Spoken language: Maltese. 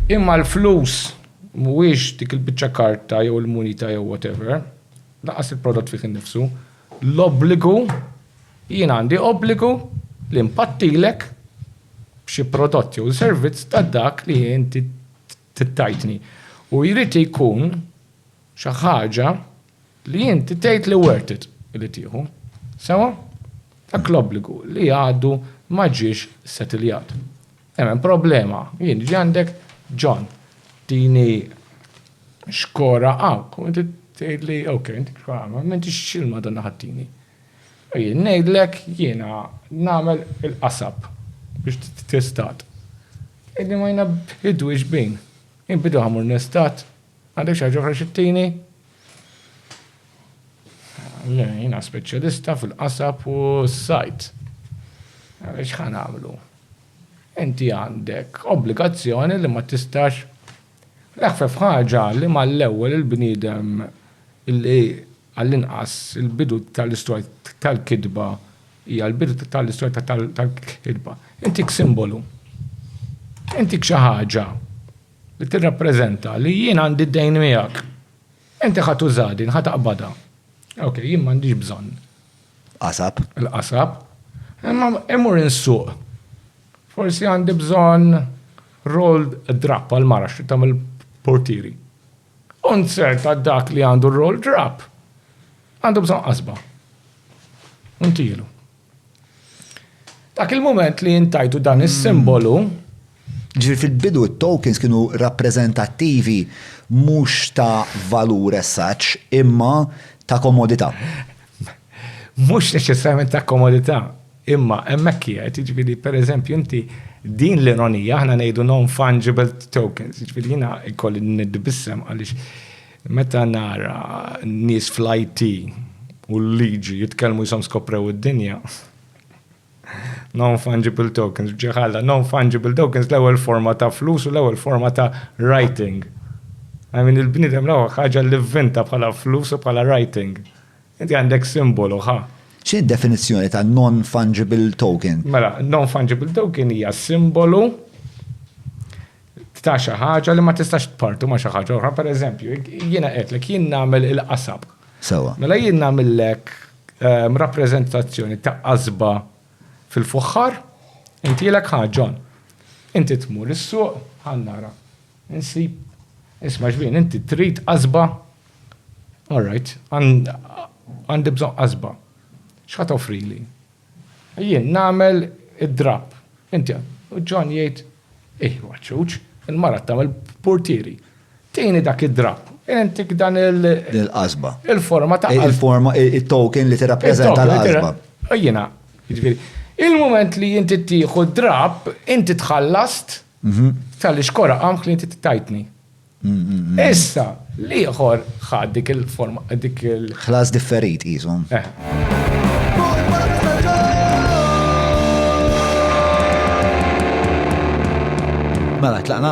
Imma l-flus mhuwiex dik il-biċċa karta jew il-munita jew whatever, lanqas il-prodott fih innifsu. L-obbligu, jien għandi obbligu li npattilek b'xi prodott jew servizz ta' dak li inti tajtni. U jrid ikun xi ħaġa. Li inti tgħid li worth it li tieħu. Sewwa? Dak l-obbligu li għadu ma ġiex settiljat. Hemm problema, jien niġi għandek, John, tini xkora hawnk u inti tgħidli ok, inti xkora, m'intix xi l-Madonna ħattini. U jien ngħidlek jiena nagħmel il-qasab biex titestat. Illi ma jnabbidux bin. Inbidu ħamur nestat. Għandek xi ħaġa oħra xi ttini? Le, jiena speċjalista fil-qasab u s-sajd. Għalhekk x'ħa nagħmlu? Inti għandek obbligazzjoni li ma tistax l-eħfef ħaġa li mal-ewwel il-bniedem li għall-inqas il-bidu tal-istorja tal-kitba hija l-bidu tal-istorja tal-kitba. Intik simbolu. Intik xi ħaġa. li tirrappreżenta li jien għandi d-dejn miegħek. Inti ħa tuża din, ħa taqbadha. Okej, jien m'għandix bżonn. Qasab. Il-qasab. Imma imur insuq. Forsi għandi bżonn roll drap għal mara xi tagħmel portieri. Unzert għad dak li għandu roll drap. Għandu bżonn qasba. Untilu. Dak il-mument li int tajtu dan is-simbolu, Ġifieri fil-bidu t-tokens kienu rappreżentattivi mhux ta' valur as such, imma ta' komodità. Mhux neċessarjament ta' komodità, imma hemmhekk qiegħed, jiġifieri pereżempju inti din l-ironija, aħna ngħidu non-fungible tokens, jiġifieri jiena jkolli niddibissem għaliex Meta nara n-nies fl-IT u l-liġi jitkellmu jisom skoprew id-dinja, non-fungible tokens, ġiħalla, non-fungible tokens l-ewwel forma ta' flus u l-ewwel forma ta' writing. I mean, il-bniedem l-ewwel ħaġa li vvinta bħala flus u bħala writing. Inti għandek simbolu, ha? X'inhi d-definizzjoni ta' non-fungible token? Mela, non-fungible token hija simbolu ta' xi ħaġa li ma tistax tpartu ma' xi ħaġa oħra. Pereżempju, jiena qedtlek jien nagħmel il-qasab. Sewwa. Mela jien nagħmillek ehm, rappreżentazzjoni ta' qasba fil-fuħħar, intilek ħa John. Inti tmur is-suq, ħa nara. Insib, isma' xbien, inti trid qasba? All right, għandi bżonn qasba. X'ħa toffrili? Jien nagħmel id-drapp. Inti, u John jgħid, ih, għaċċuċ, il-mara tagħmel purtieri. Tini dak id-drapp, intik dan il- Il-qasba. Il-forma ta' qasba. Il-forma, il-token li tirrappreżenta l-qasba. Jiena, jiġifieri, il-mument li inti tieħu d-drapp, inti tħallast Talli xkora qamħ li inti ttajtni. Issa, l-ieħor ħa dik il-forma, dik il- Ħlas differit qisu. Mela, tlaqna?